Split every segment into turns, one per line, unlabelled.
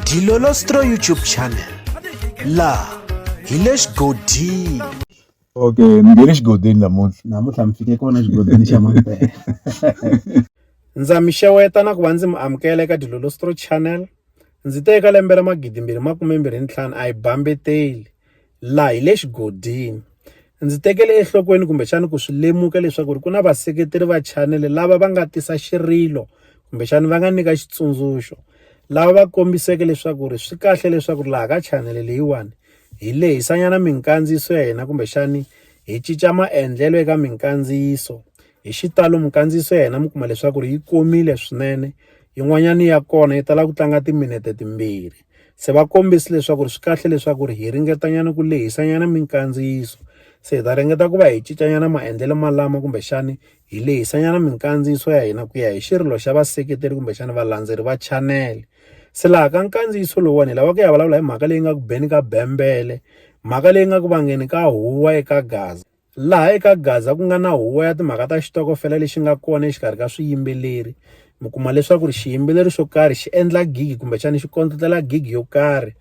Dilolostro YouTube channel laha hi le xigodini okay
ni nge le xigodini namuntlha namuntlha mi fike kona xigodini xa mampela
ndza mi xeweta na ku va ndzi mi amukela eka dilolostro channel ndzi te eka lembe ra magidi mbirhi makume mbirhi ntlhanu a hi bambeteli laha hi le xigodini. Ndzi tekele enhlokweni kumbexana ku swi lemuka leswaku ku na vaseketeri va chanele lava va nga tisa xirilo kumbexana va nga nyika xitsundzuxo, lava va kombiseke leswaku ri swi kahle leswaku laha ka chanele leyiwani hi lehisanyana minkandziyiso ya hina kumbexani hi cinca maendlelo eka minkandziyiso. Hi xitalo minkandziyiso ya hina mi kuma leswaku ri yi komile swinene, yin'wanyana ya kona yi tala ku tlanga timinete timbirhi. Se va kombisi leswaku ri swi kahle leswaku ri hi ringetanyana ku lehisanyana minkandziyiso se hi ta ringeta ku va hi cincanyana maendlelo malama kumbexani hi lehisanyana minkandziyiso ya hina ku ya hi xirilo xa vaseketeri kumbexani valandzeri va chanele se laha ka nkandziyiso lowuwani hi lava ku ya vulavula hi mhaka leyi nga ku beni ka bembele mhaka leyi nga ku vangeni ka huwa eka gaza laha eka Gaza ku nga na huvo ya timhaka ta xitokofela lexi nga kona exikarhi ka swiyimbeleri mi kuma leswaku ri xiyimbeleri xo karhi xi endla gigi kumbexana xi kondletela gigi yo karhi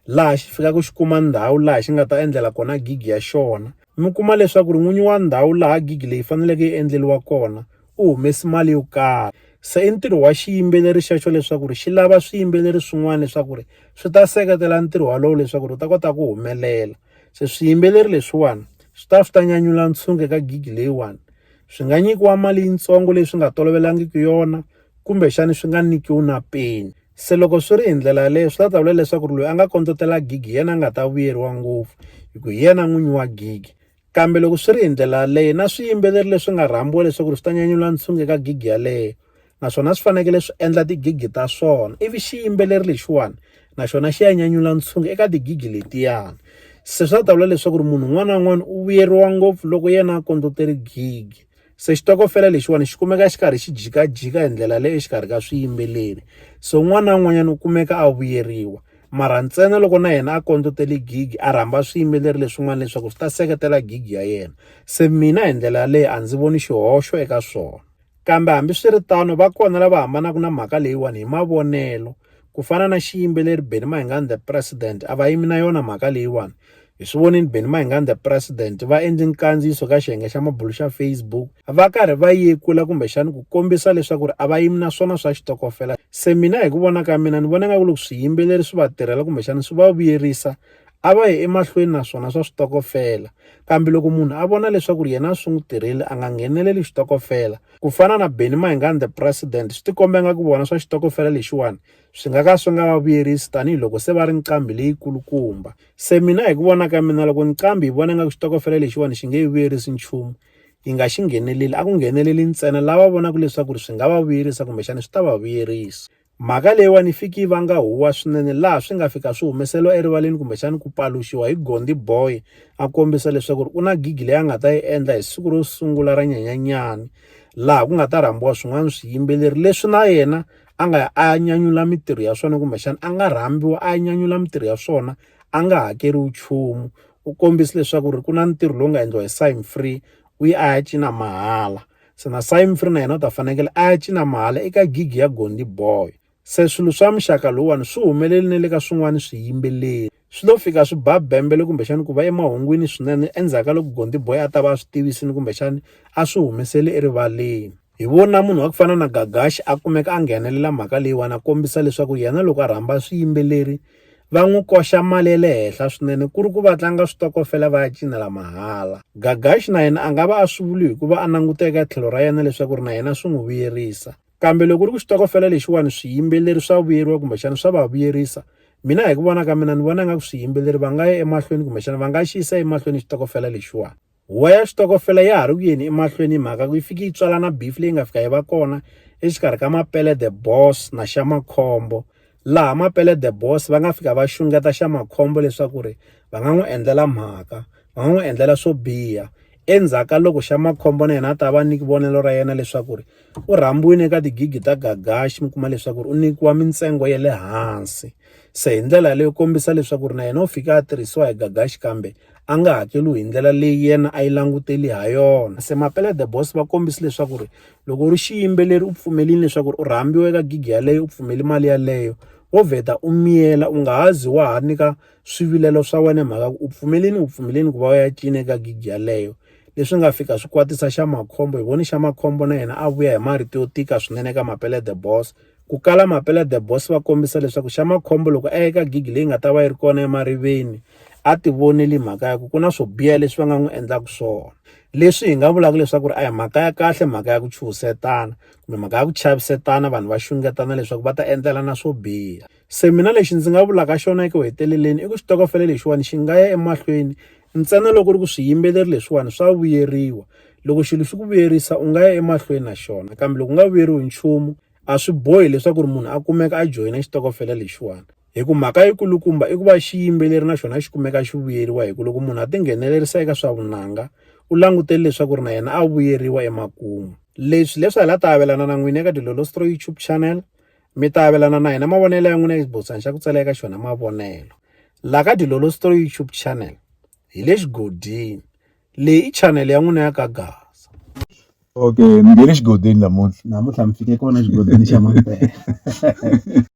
laha xi fikaka xi kuma ndhawu laha xi nga ta endlela kona gigi ya xona mi kuma leswaku ri n'winyi wa ndhawu laha gigi leyi faneleke yi endleriwa kona u humesi mali yo karhi se i ntirho wa xiyimbeleri xexo leswaku ri xi lava swiyimbeleri swin'wana leswaku ri swi ta seketela ntirho walowo leswaku ri u ta kota ku humelela Se swiyimbeleri leswiwani swi ta swi ta nyanyula ntshungu eka gigi leyiwani swi nga nyikiwa mali yitsongo leyi swi nga tolovelangiki yona kumbexani swi nga nyikiwi na peni se loko swi ri hi ndlela yaleyo swi ta ta vula leswaku ri loyi a nga kondletela gigi hi yena a nga ta vuyeriwa ngopfu hi ku hi yena n'winyi wa gigi kambe loko swi ri hi ndlela yaleyo na swiyimbeleri leswi nga rhambiwa leswaku ri swi ta nyanyula ntshungu eka gigi yaleyo naswona swi fanekele swi endla tigigi ta swona ivi xiyimbeleri lexiwani naxona xi ya nyanyula ntshungu eka tigigi letiyani se swa ta vula leswaku ri munhu un'wana na un'wana u vuyeriwa ngopfu loko yena a kondlotere gigi se xitokofela lexiwani xi kumeka xi karhi xi jikajika hi ndlela leyo exikarhi ka swiyimbeleri so un'wana na un'wanyana u kumeka a vuyeriwa mara ntsena loko na yena a kondlotele gigi a rhamba swiyimbeleri leswin'wana leswaku swi ta seketela gigi ya yena se mina hi ndlela yaleyo a ndzi voni xihoxo eka swona Kambe hambiswiritano, va kona lava hambanaka na mhaka leyiwani hi mavonelo. Ku fana na xiyimbeleri Benny Mayengani the President, a va yimi na yona mhaka leyiwani. Hi swi vonile Benny Mayengani the President va endle nkandziyiso ka xiyenge xa mabulo xa Facebook va karhi va yekula kumbexana ku kombisa leswaku ri a va yimi na swona swa xitokofela. Se mina hi ku vona ka mina ni vona nga ku loko swiyimbeleri swi va tirhela kumbexana swi va vuyerisa a va yi emahlweni na swona swa switokofela kambe loko munhu a vona leswaku yena a swi n'wi tirheli a nga ngheneleli xitokofela ku fana na Benny Mayengani the president swi tikomba nga ku vona swa xitokofela lexiwani swi nga ka swi nga va vuyerisi tanihiloko se va ri nqambi leyi kulukumba se mina hi ku vona ka mina loko nqambi hi vona nga ku xitokofela lexiwani xi nge yi vuyerisi nchumu yi nga xi ngheneleli a ku ngheneleli ntsena lava vonaka leswaku ri swi nga va vuyerisa kumbexana swi ta va vuyerisa Mhaka leyiwani yi fike yi vanga huwa swinene laha swi nga fika swi humeseriwa erivaleni kumbexana ku paluxiwa hi Gondi Boy a kombisa leswaku ri u na gigi leyi a nga ta yi endla hi siku ro sungula ra nyanyanyani laha ku nga ta rhambiwa swin'wana swiyimbeleri leswi na yena a nga ya a ya nyanyula mintirho ya swona kumbexana a nga rhambiwa a ya nyanyula mintirho ya swona a nga hakeriwi nchumu u kombisa leswaku ri ku na ntirho lowu nga endliwa hi Sign Free u yi a ya cina mahala. Se na Sy Mfree na yena u ta fanekele a ya cina mahala eka gig ya Gondi Boy. Se swilo swa muxaka lowuwani swi humelele na le ka swin'wana swiyimbeleri. Swi lo fika swi ba bembele kumbexana ku va emahungwini swinene endzhaku ka loko Gondi Boy a ta va a swi tivisile kumbexana a swi humesele erivaleni. Hi vona munhu wa ku fana na Gagashi a kumeka a nghenelela mhaka leyiwani a kombisa leswaku yena loko a rhamba swiyimbeleri va n'wi koxa mali ya le henhla swinene ku ri ku va tlanga switokofela va ya cinela mahala gagaxi na yena a nga va a swi vuli hikuva a languta eka tlhelo ra yena leswaku ri na yena swi n'wi vuyerisa kambe loko ri ku xitokofela lexiwani swiyimbeleri swa vuyeriwa kumbexana swa va vuyerisa mina hi ku vona ka mina ni vona nga ku swiyimbeleri va nga ya emahlweni kumbexana va nga xi yisa emahlweni xitokofela lexiwani Huwa ya xitokofela ya ha ri ku yeni emahlweni hi mhaka ku yi fike yi tswalana beef leyi nga fika yi va kona exikarhi ka Mapele the Boss na Xamakhombo laha Mapele the Boss va nga fika va xungeta Xamakhombo leswaku ri va nga n'wi endlela mhaka va nga n'wi endlela swo biha endzhaku ka loko Xamakhombo na yena a ta va nyiki vonelo ra yena leswaku ri u rhambiwile eka tigigi ta gagaxi mi kuma leswaku ri u nyikiwa mintsengo ya le hansi se hi ndlela leyo kombisa leswaku ri na yena u fika a tirhisiwa hi gagaxi kambe a nga hakeriwi hi ndlela leyi yena a yi langutele ha yona. Se Mapele The Boss va kombise leswaku ri loko u ri xiyimbeleri u pfumelini leswaku ri u rhambiwa eka gig yaleyo u pfumeli mali yaleyo wo vheta u miyela u nga ha zi wa ha nyika swivilelo swa wena hi mhaka ku u pfumelini u pfumelini ku va u ya cina eka gig yaleyo leswi nga fika swi kwatisa xa makhombo hi voni xa makhombo na yena a vuya hi marito yo tika swinene eka Mapele The Boss. Ku kala Mapela The Boss va kombisa leswaku xa makhombo loko a eka gigi leyi nga ta va yi ri kona emariveni a ti voneli mhaka ya ku ku na swo biha leswi va nga n'wi endlaka swona leswi hi nga vulaka leswaku ri a hi mhaka ya kahle mhaka ya ku chuhisetana kumbe mhaka ya ku chavisetana vanhu va xungetana leswaku va ta endlelana swo biha se mina lexi ndzi nga vulaka xona eku heteleleni i ku xitokofele lexiwani xi nga ya emahlweni ntsena loko ri ku swiyimbeleri leswiwani swa vuyeriwa loko xilo xi ku vuyerisa u nga ya emahlweni na xona kambe loko u nga vuyeriwi nchumu a swi bohi leswaku ri munhu a kumeka a joyina xitokofela lexiwani hi ku mhaka yikulukumba i ku va xiyimbeleri na xona xi kumeka xi vuyeriwa hi ku loko munhu a tinghenelerisa eka swa vunanga u langutele leswaku ri na yena a vuyeriwa emakumu leswi leswi hi la ta avelana na n'wina eka dilolostro youtube channel Mi ta avelana na hina mavonelo ya n'wina exibotshwani xa ku tsala eka xona mavonelo la ka Dilolo Story YouTube channel hi le xigodini. Leyi i channel ya n'wina ya ka Gaza. Okay,
mi
nghene
xigodini
namuntlha.
Namuntlha mi
fike kona
xigodini xa
Mampela.